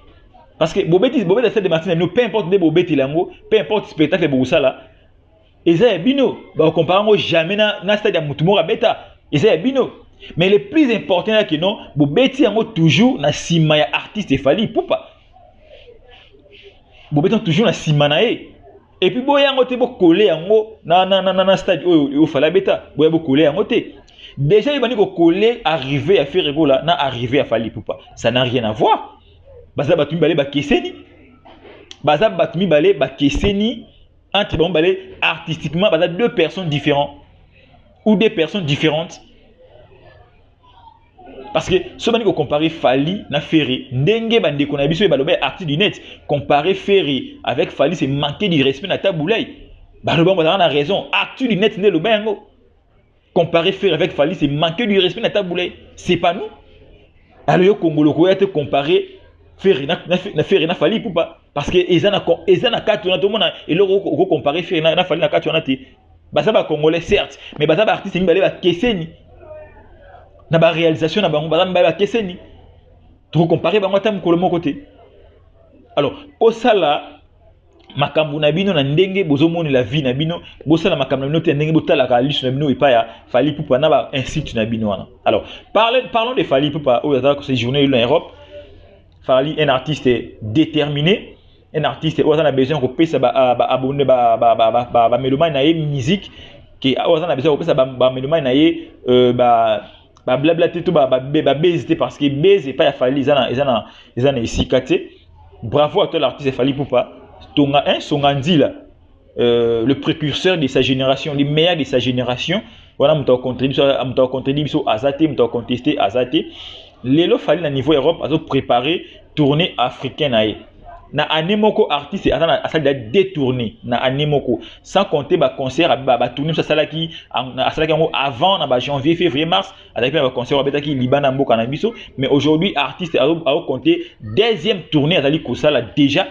parce que bobeti bobeta stade martyr na bino peu importe nde bobetela yango peu importe spectacle bokosala eza ya bino ba compare yango jamais na, na stade ya mutu moko abeta eza ya bino mais le plus important ya kino bobeti yango toujours na sima ya artiste efali pupa bobeti yango toujours na sima na ye epuis boya yango te bokole yango na, na, na, na, na stade oyo ofali abeta boya bokole yango te déjà ebandi kokole arrive ya ferregola na arrive ya fali pupa ça n'a rien à voir baza bato mibale bakeseni baza bato mibale bakeseni entre bango mibale artistiquement baza deux personnes différentes ou deux personnes différentes parce que soki bandi kocompare fali na ferre ndenge bandeko na biso oyo baloba ya arti du net compare ferre avec fali c'est manquer du respect na tabulai baloba yango bazalaka na raison arti du net nde eloba yango comparer ferre avec fally c'est manquer du respect na tabule c'est pas nous alors yo kongolo koya te comparer ferre na, na, na ferre na fally pupa parce que eza na eza na kati wana tomona eloko oko comparer ferre na, na fally na kati wana te baza ba congolais certes mais baza ba artistes mibale bakeseni na ba réalisation na bango baza mibale bakeseni tokokompare bango ata mokolo moko te alors kosala makambo na bino na ndenge bozomonela vie na bino bosala makambo na bino te na ndenge botalaka liso na bino epai ya fali pupa na ba insulte na bino wana alors parle, parlons de fali pupa oyo azalaka séjourne lelo na europe fali un artiste déterminé un artiste oyo aza na besoin ya kopesa baabonne ah, bamelomani na ye musique ke oyo aza na besoin ya kopesa bamelomani na ye euh, ba bablabla te to babezi te parce que bezi epai ya fali eza na esika te Bravo à toi l'artiste Fally Poupa, Tonga hein, Songa Nzila, euh, le précurseur de sa génération, le meilleur de sa génération. Voilà, muta contredit, muta contredit biso azate, muta contester azate. Lelo Fally na niveau Europe azo préparer tournée africaine aye. Na année moko artiste azana asali da détourner na année moko sans compter ba concert ba, ba tournée ça salaki asalaki yango avant na ba janvier février mars azalaki mpe na baconcert abetaki libanda ya mboka na biso mais aujourd'hui artiste aocompte deuxième tournée azali kosala déjà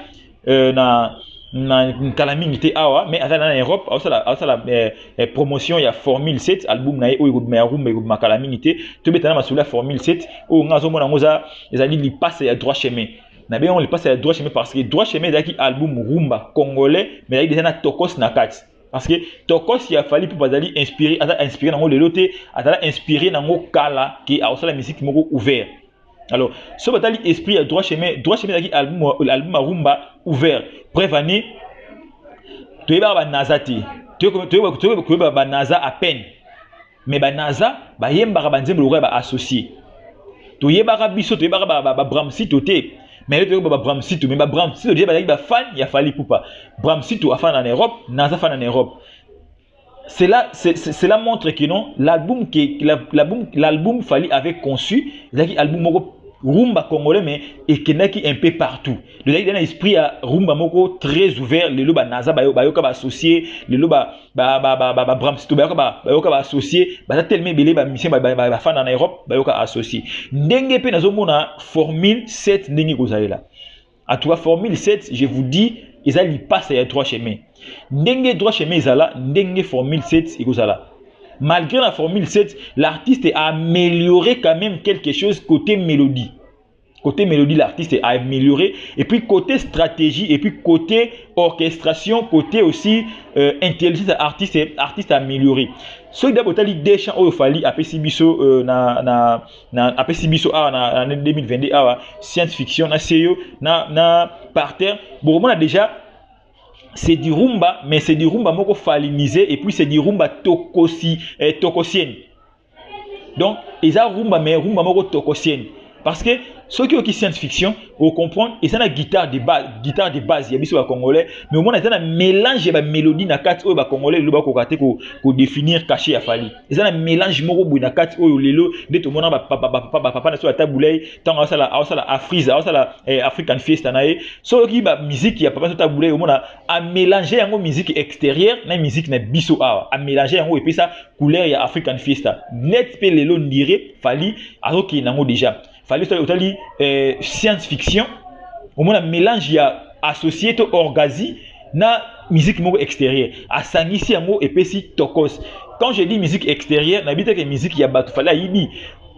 euh, na na nkala mingi te awa mais azali na europe aosala, aosala eh, eh, promotion ya formule 7 album na ye oyo ekobima ya rumba ekobima kala mingi te tobeta na masolo ya formule 7 oyo ngai azomona yango eza ezali lipasa ya droit chemin na bengi yango lipasa ya droit chemin parce que droit chemin ezalaki album rumba congolais mais ezalaki deja na tokos na kati parce que tokosi ya fali mpo bazali inspiré aza inspiré nango lelo te azala inspiré nango kala ke akosala miziki moko ouvert alors so batali esprit ya droit chemin droit chemin ezalaki album, album ya rumba ouvert preuve année toyebaka banaza te toyeba banaza à peine mais ba naza bayembaka banzembo lokola ba associé toyebaka biso toyebaka babramsito ba, ba, ba te mais yo toyeba babramsito mais babramsito deja bazalaki bafan ya fali pupa bramsito afana na europe naza fana na europe cela, cela montre que non l'album l'album l'album fali avait conçu ezalaki album moko rumba congolais mais ekendaki un peu partout ezalaki na esprit ya rumba moko très ouvert lelo banaza bayoka baassocié lelo ba ba ba ba ba Brams to bayoka ba bayoka ba associé baza tellement ebele ba musicien ba ba ba fana na Europe bayoka associé ndenge pe nazomona formule 7 ndenge kozalela en tout cas formule 7 je vous dis eza lipasa ya droit chemin ndenge droit chemin ezala ndenge formule 7 ekozala malgré la formule 7 l'artiste a amélioré quand même quelque chose côté mélodie Côté mélodie, l'artiste a amélioré. Et puis côté stratégie, et puis côté orchestration, côté aussi euh, intelligence artiste, artiste amélioré. Ce qui d'abord les deux chants au Fali après Sibiso euh, na na na après Sibiso ah na, na 2022 ah science fiction na CEO na na par terre. Bon, on a déjà c'est du rumba mais c'est du rumba moko falinisé et puis c'est du rumba tokosi eh, tokosienne donc eza rumba mais rumba moko tokosienne parce que soki oyoki science fiction ocomprendre eza na guitare de base guitare de base ya biso bacongolais mais omona eza na mélange ya bamélodie na kati oyo bacongolais lelo bakoka te kodéfinir cachet ya fali eza na mélange moko boye na kati oyo lelo nde tomona bapapa na so ata bulai ntango aosala afrise aosala eh, african fiesta na ye so oyoki bamiziki ya papa so ata bulai omona a mélanger yango musique extérieure na musique na biso awa a mélanger yango epesa couleur ya African Fiesta net pe lelo ndire Fally azokende nango déjà Fally soki otali euh, science fiction omona mélange ya associé to orgazi na musique moko extérieure asangisi yango epesi tokos quand je dis musique extérieure nayebi te ke musique ya bato Fally ayibi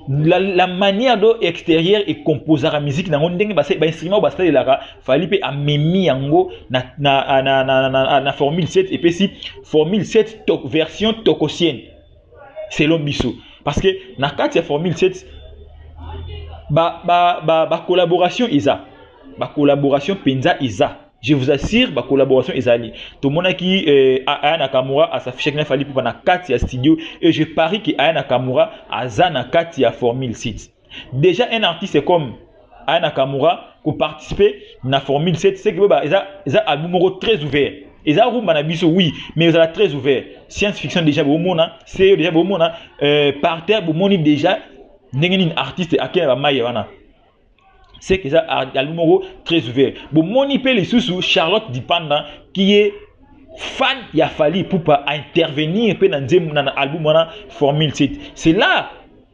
la, la manière do extérieur ekomposaka miziki nango ndenge bainstrument oyo basalelaka fali mpe amemi yango na, na, na, na, na, na formule 7 epesi formule 7 to, version tokosienne selon biso parce que na kati ya formule 7 bacollaboration ba, ba, ba eza bacollaboration mpenza eza Je vous assure, ba collaboration ezali. Tomonaki euh, Aya Nakamura a s'afficher na Fally Poupa na kati ya studio et je parie que Aya Nakamura aza na kati ya Formule Site. Déjà un artiste comme Aya Nakamura ko participer na Formule Site, c'est que ba eza eza album moko très ouvert. eza rumba na biso oui mais ezala très ouvert science fiction déjà bomona seo déjà bomona euh, par terre bomoni déjà ndenge nini artiste akenda bamai wana c'est que ça album moko très ouvert bomoni mpe lisusu charlotte dipanda qui est fan ya fali pupa a intervenir mpe na nzembo na album wana formule 7 c'est là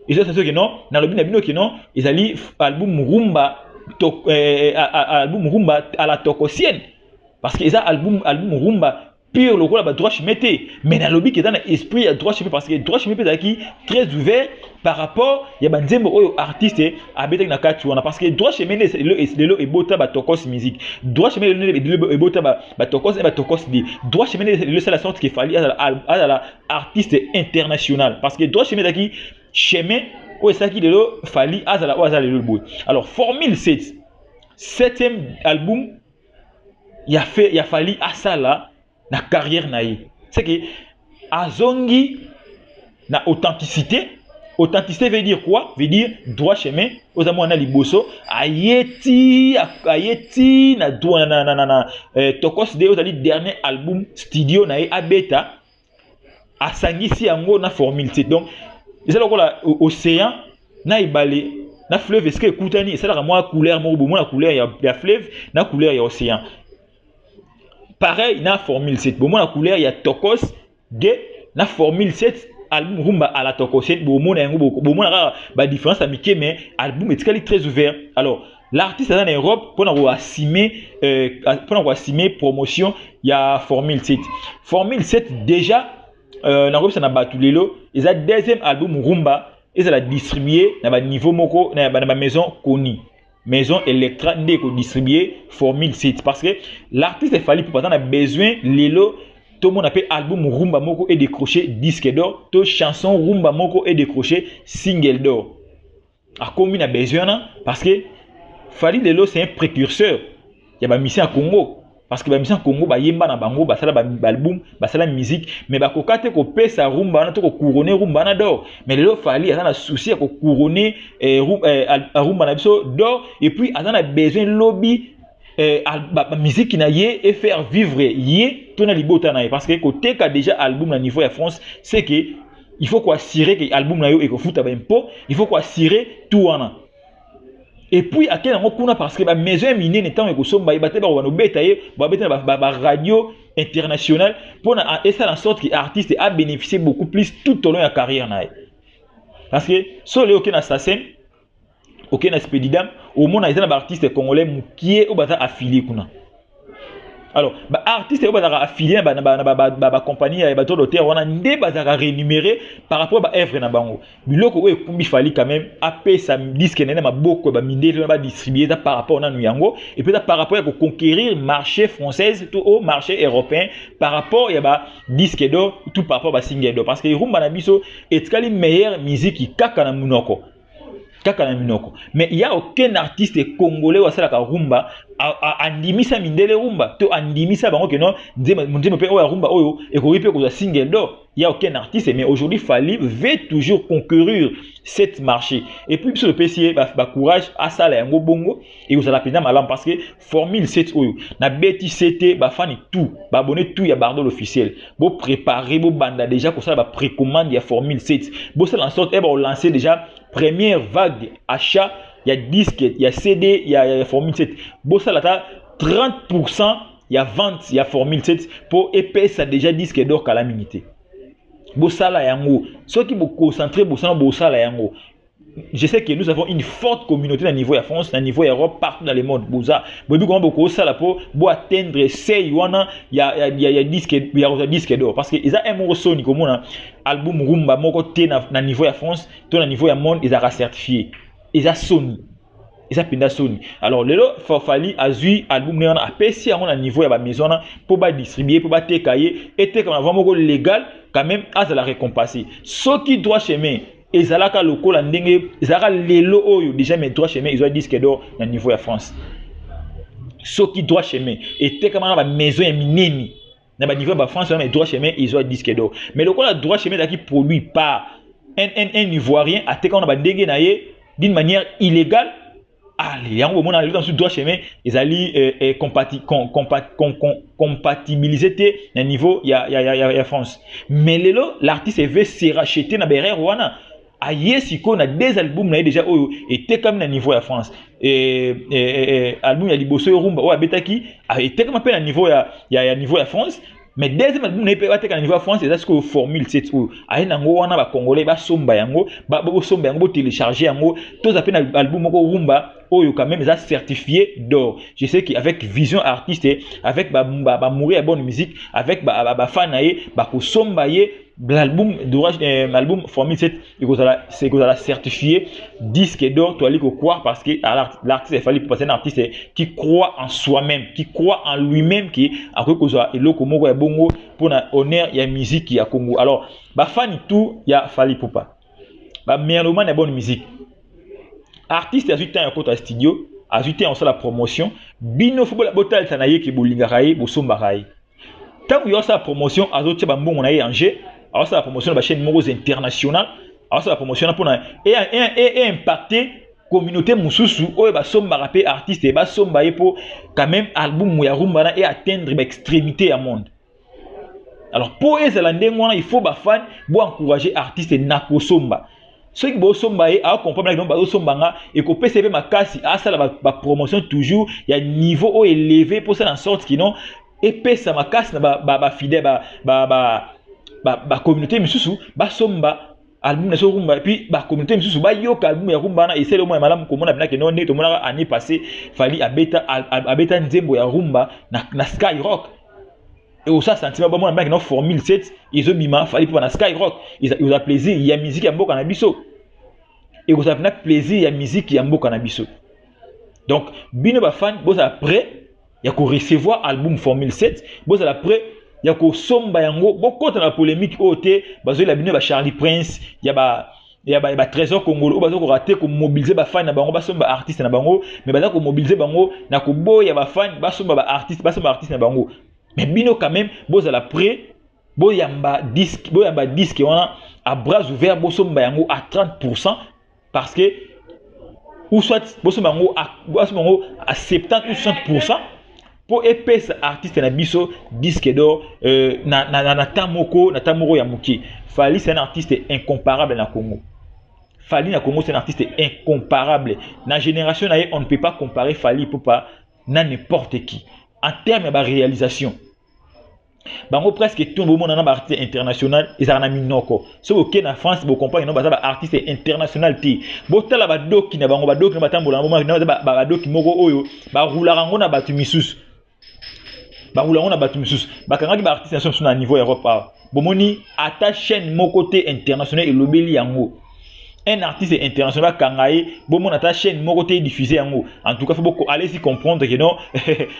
eza saso ke non nalobi na bino ke non ezali album rumba to, eh, eh, eh album rumba à la tokosienne parce que eza album album rumba pire lokola ba droit chemin te mais nalobi keza na esprit ya droit chemin parce que droit chemin mpe ezalaki très ouvert par rapport ya banzembo oyo artiste abetaki na kati wana parce que droit chemin lelo ebota batokos musique droit chemin lelo ebota batokos e batokos de droit chemin lelo esala sorte que fali azala artiste international parce que droit chemin ezalaki chemin oyo esalaki lelo fali azala oyo azala lelo boye alors formule 7 septième album ya, fe, ya fali asala na carrière na ye seke azongi na authenticité authenticité veut dire quoi veut dire droit chemin oza mwana liboso aye ti aye ti na, na, na, na, na eh, tokos de ozali dernier album studio na ye abeta asangisi yango na formule te donc eza lokola océan na ebale na fleuve esika ekutani esalaka mwa couleur moko bomona couleur ya, ya fleuve na couleur ya océan pareil na formule 7 bomona couleur ya tokos de na formule 7 album rumba à la tokos 7 bomona yango bomona kaka badifference ya mike mais album etikali très ouvert alors L'artiste aza na Europe mpo na koassume euh, mpo na koassume promotion ya Formule 7. Formule 7 déjà euh, nakoyebisa na bato lelo eza deuxième album rumba ezala distribue na baniveau moko na bamaison connu maison electra nde ekodistribue formule 7 parce que l'artiste efali mpo baza na besoin lelo tomona mpe album rumba moko edécroche disque d'or to chanson rumba moko edécroche single d'or akomi na besoin wana parce que fali lelo c'est un précurseur ya bamisien ya congo parce que bamisien ya congo bayemba na bango basala baalbum basala musique mais bakoka te kopesa rumba wana to kocourone rumba wana dor mais lelo fali aza na souci ya kocourone eh, eh, rumba na biso dor et puis aza na besoin lobi eh, bamiziki na ye e faire vivre ye to na libota na ye parce que koteka déjà album na niveau ya france c'est que il faut koassure ke album na yo ekofuta baimpo il faut koassure tout wana epuis ake yango kuna parce que bamaison ya minene ntango ekosomba ye bate bakoba nobeta ye babeta na baradio international mpo na esala en sorte ke artiste abénéficie beaucoup plus tout au long ya carrière na ye parce que solo oke na sasen oke na spedidam omona eza na baartiste congolais mokie oyo baza affilie kuna alors baartiste oyo bazalaka affilie na bacompagnie ya bato doter wana nde bazalaka renumere par rapport ya baœuvre na bango biloko oyo ekumbi fali quand même apesa diske na ye na maboko ya bamindele wana badistribue eza par rapport nanu yango epuis eza par rapport ya koconquérir marché française to au marché européen par rapport ya badiske d'or tout par rapport ya basingle d'or parce que erumba na biso etikali meilleure musique kaka na monoko kaka na minoko mais il y a aucun artiste congolais oyo asalaka rumba andimisa mindele rumba to andimisa bango ke non nzembo mpe oyo ya rumba oyo ekoki mpe kozwa single d'or il y a aucun artiste mais aujourd'hui Fally veut toujours concourir cette marché et puis biso topesi ye ba, ba courage asala yango bongo ekozala mpenza malamu parce que formule set oyo na beti sete bafani tout baabone tout ya bardol officiel boprépare bobanda déjà kosala baprecommande ya formule set bosala na sorte eba olance déjà première vague achat ya disque ya cd ya, ya, ya formule set bosala ata 30 pourcent ya vente ya formule set mpo epesa déjà disque dor kala mingi te bosala yango soki boconcentre bosana bosala yango je sais que nous avons une forte communauté na niveau ya France, na niveau ya Europe, partout dans le monde. Boza, bobi comment boko sala po bo atteindre seuil wana ya ya ya, ya disque ya ya disque d'or parce que eza un moko soni komona album rumba moko te na, na niveau ya France, to na niveau ya monde ezaka certifié. Eza soni. eza mpenza soni alors lelo fafali azwi album ne wana apesi yango na niveau ya bamaison wana mpo badistribue mpo bateka ye etekama va moko légal quand même azala récompensé soki droit chemin ezalaka lokola ndenge ezalaka lelo oyo déjà mais droit chemin ezwa disque d'or na niveau ya france soki droit chemin etekama na bamaison ya minene na baniveau ya bafrance wana mais droit chemin ezwa disque d'or mais lokola droit chemin ezalaki produit par un, un, un ivoirien atekama na bandenge na ye d'une manière illégale ale yango bomona elota mosusu droit chemin ezali eh, eh, compati, com, compat, com, com, compatibilise te na niveau ya, ya, ya, ya, ya france mais lelo l'artiste eve se rachete na berere wana aye sikoyo na deux album na ye deja oyo etekami na niveau ya france e, e, e, album ya liboso yo rumba oyo abetaki etekama mpe na niveau ya, ya, ya niveau ya france mais deuxième album na ye mpe bateka na niveau ya france eza sikoyo formule set oyo aye nango wana bacongolais basomba yango bosomba yango botelecharge yango toza mpe na album moko rumba oyo quand même eza certifié d'or je sais qu'avec vision artiste avec bamouri ba, ba ya bonne musique avec bafan ba, ba na ye bakosomba ye l'album d'orage euh, l'album formule 7 ekozala ekozala certifié disque d'or toali kokwa parce que l'artiste il fallait passer un artiste qui croit en soi-même qui croit en lui-même qui akoki kozwa eloko moko ya bongo mpona honneur ya musique ya congo alors bafani tout ya fali pupa bamerlomane ya bonne musique artiste azwi temps ya kota studio azwi temps ya kosala promotion bino fo botalisa na ye ke bolingaka ye bosombaka ye ntango yo asala promotion azotia bambongo na ye en jeu aosala promotion na bachaîne moko international aosala promotion na mpona eimpacte communauté mosusu oyo basombaka mpe artiste basomba ye mpo quand même album ya rumba na e atteindre baextrémité ya monde alors mpo ezala ndenge wana il faut bafane boencourage artiste na kosomba soki bosomba ye akompamela kino bazosomba nga ekopesa ye mpe makasi asala bapromotion ba toujours ya niveau oyo eleve mposa na sorte kino epesa makasi na bafidèle ba, ba, ba, ba, ba communauté misusu basomba album na soki rumba epuis bacommunauté misusu bayoka album ya rumba wana esali omona malamu komona bina kino ndenge tomonaka année passé fali abeta, abeta nzembo ya rumba na, na sky rock Et au ça sentiment bon moi mec non formule 7 ils ont bima fallait pour na skyrock ils ont la plaisir il y a musique ya mboka na biso et au ça na plaisir ya musique ya mboka na biso donc bino ba fan bo ça prêt ya ko recevoir album formule 7 bo ça la prêt ya ko somba yango bo kota na polemique oyo te bazo la bino ba Charlie Prince ya ba ya ba, ba trésor congolais oyo baza korate komobilize bafani na bango basomba baartiste na bango me baza komobilize bango na koboya bafani basomba baartiste basomba baartiste na bango me bino quand même bozala près boyamba disque boyamba disque wana à bras ouvert bosomba yango à 30 pourcent parce que ou soit bosomba yango à, bosomba yango à 70 ou 60 pourcent mpo epesa artiste na biso disque d'or euh, na, na, na, na temps moko na temps moko ya moke fali c'est un artiste incomparable na congo fali na congo c'est un artiste incomparable na génération na ye on ne peut pas comparer fali popa na n'importe qui en terme ya baréalisation bango presque tout bomona na baartiste international ezalaka na minoko soki oke na france bocomprane no baza baartiste international te botala badoki na bango badoki na batambola na bomona baza badoki moko oyo barulaka yango na bato misusu barula yango na bato misusu bakangaki baartiste na so mosusu na niveau europe awa bomoni ata chaîne moko te international elobeli yango un artiste international akanga ye bomona ata chaîne moko te diffuse yango en tout cas fo boko allez y comprendre que non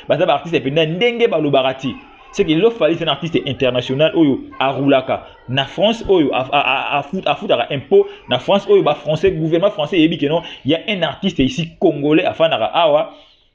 baza ba artiste mpenza ndenge balobaka te c'est que lo fali c'est un artiste international oyo aroulaka na france oyo afutaka impôt na france oyo ba français gouvernement français eyebi que non il y a un artiste ici congolais afandaka awa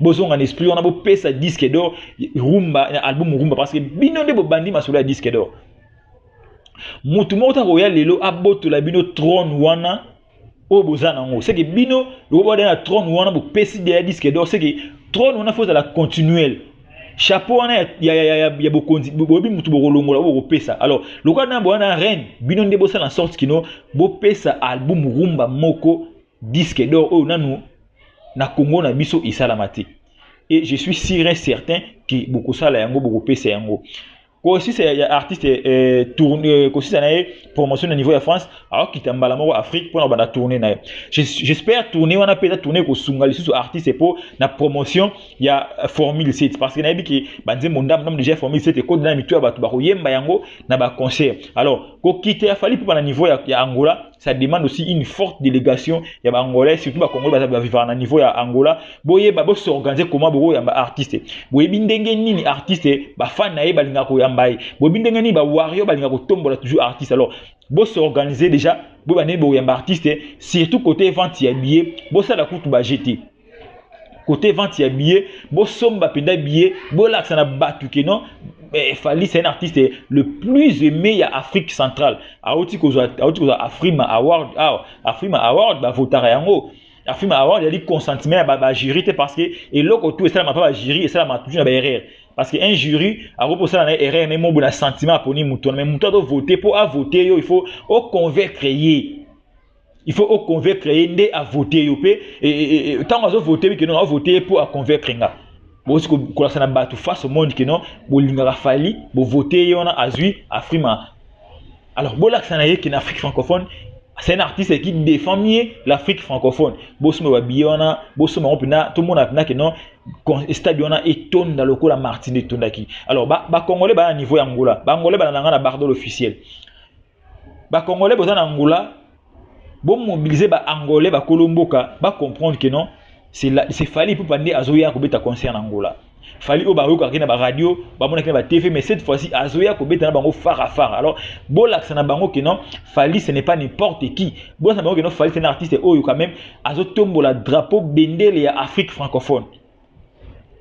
bozonga na esprit wana bopesa disque d'or rumba na album rumba parce que bino nde bobandi masolo ya disque d'or motu moko ta koya lelo abotola bino trone wana oyo boza na yango seke bino lokoboda na trone wana bopesi deya disque d'or seke trone wana fo ozala continuel chapeau wana ya, ya, ya, ya, ya bokonzi boyebi motu bokolongola oyo bokopesa alors lokola na boya na reine bino nde bosala na sorte kino bopesa album rumba moko disque d'or oyo nanu na Congo na biso esalama te et je suis sûr et certain que bokosala yango bokopesa yango kosisa ya artiste eh, tourne eh, kosisa na ye promotion na niveau ya france akokita mbala moko afrique mpona kobanda tourne na ye j'espère tourne wana mpe eza tourne ekosunga lisusu artiste mpo na promotion ya eh, formule 7 parce que nayebi ke banzembo ndambo ndambo déjà formule 7 ekode na mitu ya bato bakoyemba yango na baconcert alors kokita ya fali mpo na niveau ya, ya angola ça demande aussi une forte délégation ya ba angolais surtout ba congolais baza ba vivre na niveau ya angola boyeba bo s'organiser comment boko yamba artiste boyebi ndenge nini artiste ba fan na ye balinga koyamba ye boyebi ndenge nini ba warrior balinga kotombola toujours artiste alors bo s'organiser déjà boyeba ndenge bokoyamba artiste surtout côté vente ya billet bosala kutu ba jete kote vente ya billet bosomba mpenza billet bolakisa na bato ke non eh, fali c'est un artiste le plus aimé ya afrique centrale auti kozwa auti kozwa afrima award awa ah, afrima award bavotaka yango afrima award ezali consentement ya bajury te parce que eloko tu esalama mpa bajury esalama toujours na baerreur parce que un jury akoki kosala na erreur me mobo na sentiment aponi moto wana me moto azovote mpo avote yo il faut oconvaincre ye il faut o convaincre ye nde a voter yo pe tango azo voter que non a voter ye pour a convaincre nga bosi kolakisa na bato face au monde que non bolingaka fali bovoter ye wana azwi afrima alors bolakisa na ye que na afrique francophone c'est un artiste qui défend mieux l'afrique francophone bosomba babiye wana bosomba yango mpena tomona mpena ke non stade wana etonda lokola martine etondaki alors bacongolais ba baa niveau ya ngola bangolais balandanga na bardol officiel ba congolais boza na angola bomobilize ba angolais bakolo mboka bacomprendre que non c'est fali ipupa nde azoya kobeta concert na angola fali oyo bayokaki na baradio bamonaki na batv mais cette fois-ci azoya kobeta na bango fara fara alors bolakisa na bango ke non fali ce n'est pas n'importe qui bolakisa na bango ke non fali c'est un artiste oyo quand même azotombola drapeau bendele ya afrique francophone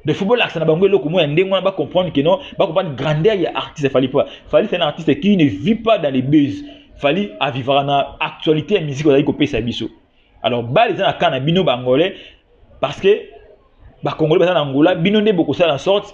de football akisa na bango eloko moko ya ndenge wana ba comprendre que non ba comprendre grandeur ya artiste Fally Ipupa Fally c'est un artiste qui ne vit pas dans les buzz Fally avivaka na actualité ya musique ozali kopesa biso alors bale eza na cas na bino bangolais parce que bakongolais baza na angola bino nde bokosala na sorte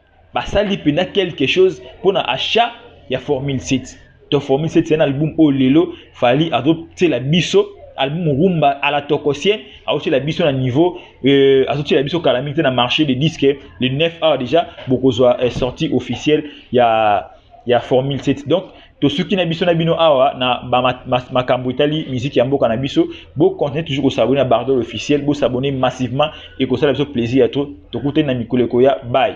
basali mpenza quelque chose mpo na achat ya formule 7 to formule 7 eza na album oyo lelo fali azotyela biso album rumba à la tokosien azotyela biso na niveau euh, azotyela biso kala mingi te na marché de disque le 9 awa déjà bokozwa euh, sortie officielle ya ya formule 7 donc tosuki na biso na bino awa na makambo etali miziki ya mboka na biso bocontinue toujours kosabone na bardol officiel bosabone massivement ekosala biso plaisir ya to tokutani na mikolo ekoya bai